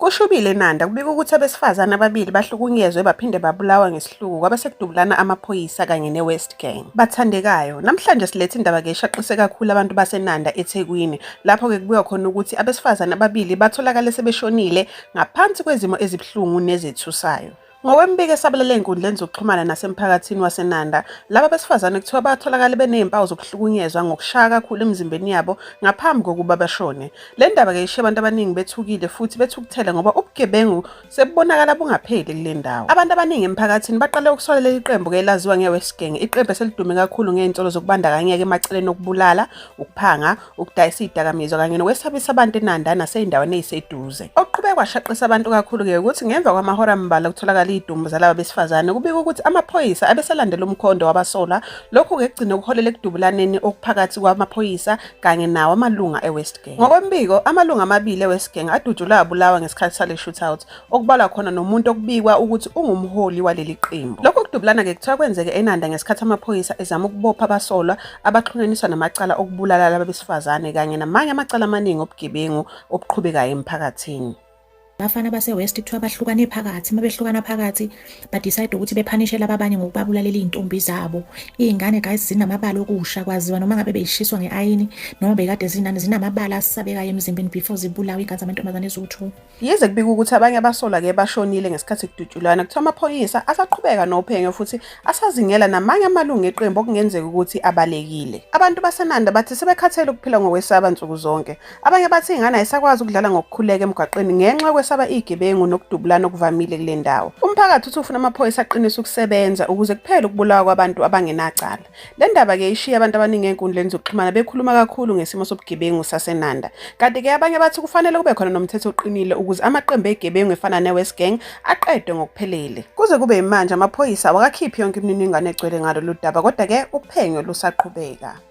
Kushubile eNanda kubika ukuthi abesifazane ababili bahlukunyezwe baphinde babulawa ngesihluku kwabe sekudubulana amaphoyisa kanye ne-West Gang. Bathandekayo, namhlanje silethe indaba ke eshaqise kakhulu abantu baseNanda eThekwini lapho ke kubuya khona ukuthi abesifazane ababili batholakale sebeshonile ngaphansi kwezimo ezibuhlungu nezethusayo. Ngokwemibiko esabalele ezinkundleni zokuxhumana nasemphakathini waseNanda, laba besifazane kuthiwa batholakale benezimpawu zokuhlukunyezwa ngokushaya kakhulu emizimbeni yabo ngaphambi kokuba bashone. Le ndaba-ke ishiye abantu abaningi bethukile futhi bethukuthele ngoba ubugebengu sebubonakala bungapheli kule ndawo. Abantu abaningi emphakathini baqale ukusola leli qembu-ke elaziwa nge-West Gang, iqembu eselidume kakhulu ngezinsolo zokubandakanyeka emaceleni okubulala, ukuphanga, ukudayisa izidakamizwa kanye nokwesabisa abantu eNanda nasey'ndaweni ey'seduze. Okuqhubeke kwashaqisa abantu kakhulu-ke ukuthi ngemva kwamahora ambalwa kutholakala iy'dumbu zalaba besifazane kubika ukuthi amaphoyisa abesalandela umkhondo wabasola lokhu-ke kugcine kuholele ekudubulaneni okuphakathi kwamaphoyisa kanye nawo amalunga e-West Gang. Ngokwembiko, amalunga amabili e-West Gang adutshulwe abulawa ngesikhathi sale shootout. okubalwa khona nomuntu okubikwa ukuthi ungumholi waleli qembu. Lokhu kudubulana-ke kuthiwa kwenzeke eNanda ngesikhathi amaphoyisa ezama ukubopha abasolwa abaxhunyaniswa namacala okubulala laba besifazane kanye namanye amacala amaningi obugebengu obuqhubekayo emphakathini. Abafana base-West kuthiwa bahlukane phakathi, uma behlukana phakathi badicide ukuthi bephanishe laba abanye ngokubabulalela iy'ntombi zabo. Iy'ngane guys zinamabala okusha kwaziwa noma ngabe beyishiswa nge-ayini noma bekade zinani, zinamabala asabekayo emzimbeni before zibulawe iy'ngane zamantombazane eziwu-two. Yize kubikwa ukuthi abanye abasolwa ke bashonile ngesikhathi kudutshulwana, kuthiwa amaphoyisa asaqhubeka nophenyo futhi asazingela namanye amalungu eqembu okungenzeka ukuthi abalekile. Abantu baseNanda bathi sebekhathele ukuphila ngokwesaba nsuku zonke. Abanye bathi ingane ayisakwazi ukudlala ngokukhuleka emgwaqeni ngenxa yokwesaba izigebengu nokudubulana okuvamile kule ndawo. Umphakathi uthi ufuna amaphoyisa aqinise ukusebenza ukuze kuphele ukubulawa kwabantu abangenacala. Le ndaba ke ishiye abantu abaningi enkundleni zokuxhumana bekhuluma kakhulu ngesimo sobugebengu saseNanda. Kanti ke abanye bathi kufanele kube khona nomthetho oqinile ukuze amaqembu egebengu efana neWest Gang aqedwe ngokuphelele. Kuze kube imanje amaphoyisa awakakhiphi yonke imininingwane egcwele ngalolu daba kodwa ke uphenyo lusaqhubeka.